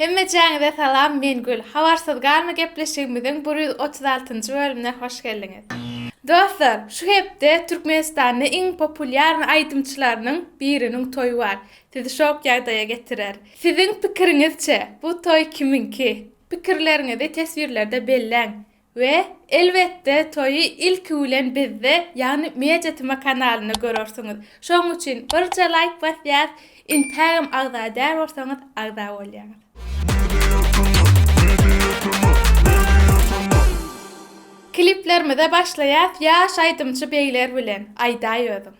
Hemmejäňize salam men Gül. Habarsyz galma gepleşigimiziň bir ýüz otuz altynjy bölümine hoş geldiňiz. Dostlar, şu hepde Türkmenistanda iň populýarny aýdymçylarynyň biriniň toýy bar. Sizi şok ýagdaýa getirer. Siziň pikiriňizçe, bu toý kimiňki? Pikirleriňizi teswirlerde belläň. We, elbetde, toýy ilki bilen bizde, ýagny Mediatema kanalynda görersiňiz. Şonuň üçin birje laýk basýas, intägem agza däl bolsaňyz agza bolýaňyz. Kliplerimize başlaýas ýaş aýdymçy begler bilen, aýdaý özüň.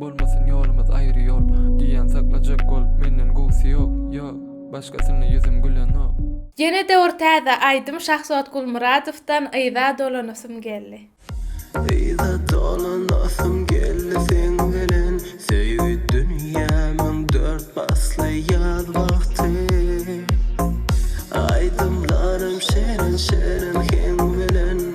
Bolmasyn ýolumyz aýry ýol Diýýän saklajak gol Menden gowsy ýok, ýok Başgasyna ýüzüm gülenok. Ýene-de bir täze aýdym Şahzod Gulmyradowdan Yza dolanasym geldi. Yza dolanasym geldi seň bilen Söýgi dünýämiň dört pasly ýaz wagty Aýdymlarym şirin-şirin heň bilen.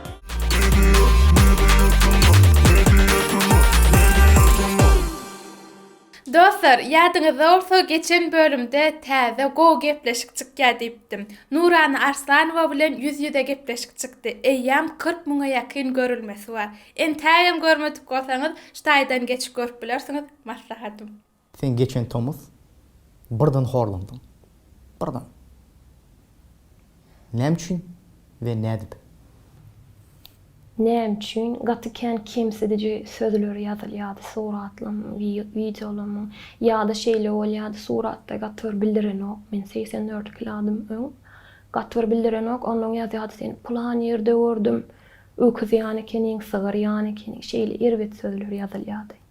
Dostlar, ýadyňyzda bolsa geçen bölümde täze gowy gepleşik çykýar diýipdim. Nurana Arslanowa bilen ýüz-ýüze gepleşik çykdy. Eýýäm kyrk müňe ýakyn görülmesi bar. Entägem görmedik bolsaňyz şu taýdan geçip görüp bilersiňiz, maslahatym. Sen geçen tomus birden horlandyň. Birden. Näme üçin we nädip? Näme üçin? Gaty kän kemsidiji sözler ýazylýardy suratlam, wideolamyň. Ýa-da şeýle bolýardy, suratda gaty bir bildirenok, men segsen dört kiladym öň. Gaty bir bildirenok, onnoň ýazýardy, seni pylan ýerde gördüm, öküz ýany ekeniň, sygyr ýany ekeniň, şeýle erbet sözler ýazylýardy.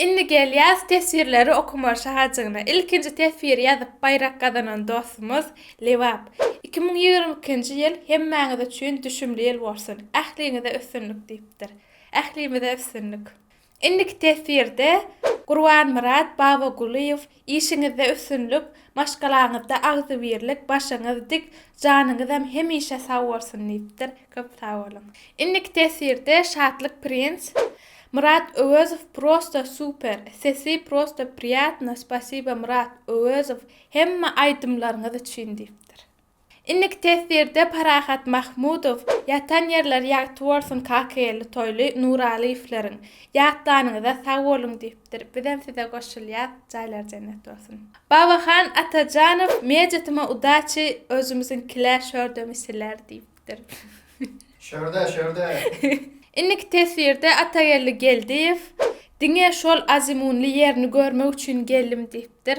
Indi gelýäs teswirleri okamaga şahajygyna. Ilkinji teswiri ýazyp baýrak gazanan dostumyz Lebap. Iki müň ýigrimi ikinji ýyl hemmäňiz üçin düşümli ýyl bolsun. Ähliňize üstünlik diýipdir. Ählimize üstünlik. Indiki teswirde Gurbanmyrat Babagulyýew Işiňizde üstünlik, maşgalaňyzda agzybirlik, başyňyz dik, janyňyzam hemişe sag bolsun diýipdir. Köp sag boluň. Indiki teswirde Şatlyk Prince, Myrat Öwezow prosta super, sesi prosta priyatno, spasiba Myrat Öwezow hemme aýdymlaryňyz üçin diýipdir. Indiki teswirde Parahat Mahmudow, Ýatan ýerleri ýagty bolsun Kakageldi Toýly Nuralyýewleriň, Ýatlanyňyza sag boluň diýipdir. Bizem size goşulýas, jaýlary jennet bolsun. Babahan Atajanow, Mejetime udaçi, özümiziňkilä şörde misiler diýipdir. Şörde, şörde. Indiki teswirde Atageldi Geldiýew, Diňe şol azimunly ýerini görmek üçin geldim diýipdir.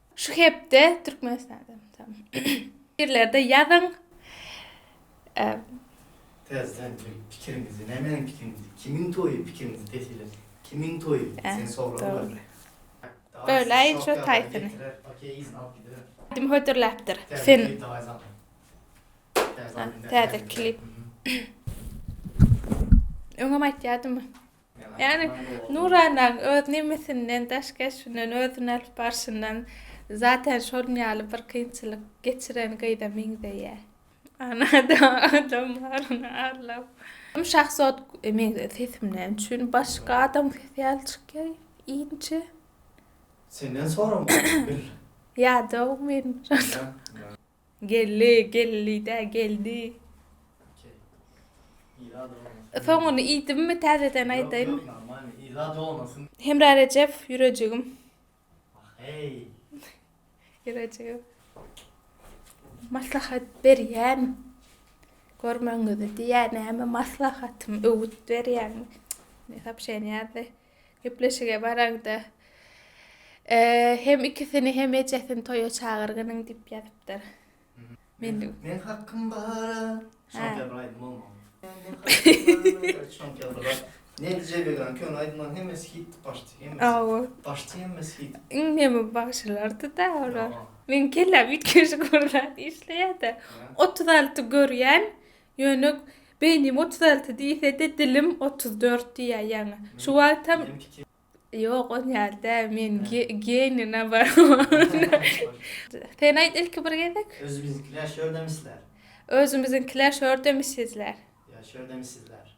Şu hepde Türkmenistanda Pikirlerde ýazyň. Prezident bilen pikiriňizi nämäniň pikiriňizi kimiň toýy pikiriňizi pesiler kimiň toýy sen sorag ber. Böle şu taýsyny. Kim hödürläpdir sen. Täze klip. Öňem aýtýardymy. Ýagny, nurananyň öz nemisinden, daş keşbinden, özüni alyp barşyndan zaten şonuň ýaly bir kynçylyk geçiren gyza meňzeýär. Ana-da adam baryny arlap. Şahzod meňzeýär sesimden. Üçin başga adam sesi ýaly çykýar inçe. Senden soramaly bil. Ýadaw men. Geldi, geldi-dä, geldi. Y soňuny iýdimmi täzeden aýdaýmy? Hemra Rejep ýürejigim. Ýürejigim. Maslahat berýän. Görmegiňizi diýýän näme maslahatym öwüt berýän. Soobşeniýa ýazdy. Gepleşige baragda hem ikisini hem ejesini toýa çagyrgynyň diýip ýazypdyr. Men Men hakym bara. Şonda bir aýdym bolmaly. Şonda bir aýdym. Nedi Jebegany köne aýdymlaryň hemmesi hitdi başdy hemmesi. Hawa. Başdy hemmesi hit. Iň neme bagşylardyda olar. Meň kelläm üýtgeşik bir zat işleýärdi. Otuz alty görýän Ýöne beýnim otuz alty diýse-de, dilim otuz dört diýýär ýaňy. Şu wagtam Ýok, ol ýaly däl. Men geniý naoborot. Sen aýt ilki bir gezek. Özümiziňkiler şördemisler. Özümiziňkiler şördemisizler. Ýa şördemisizler.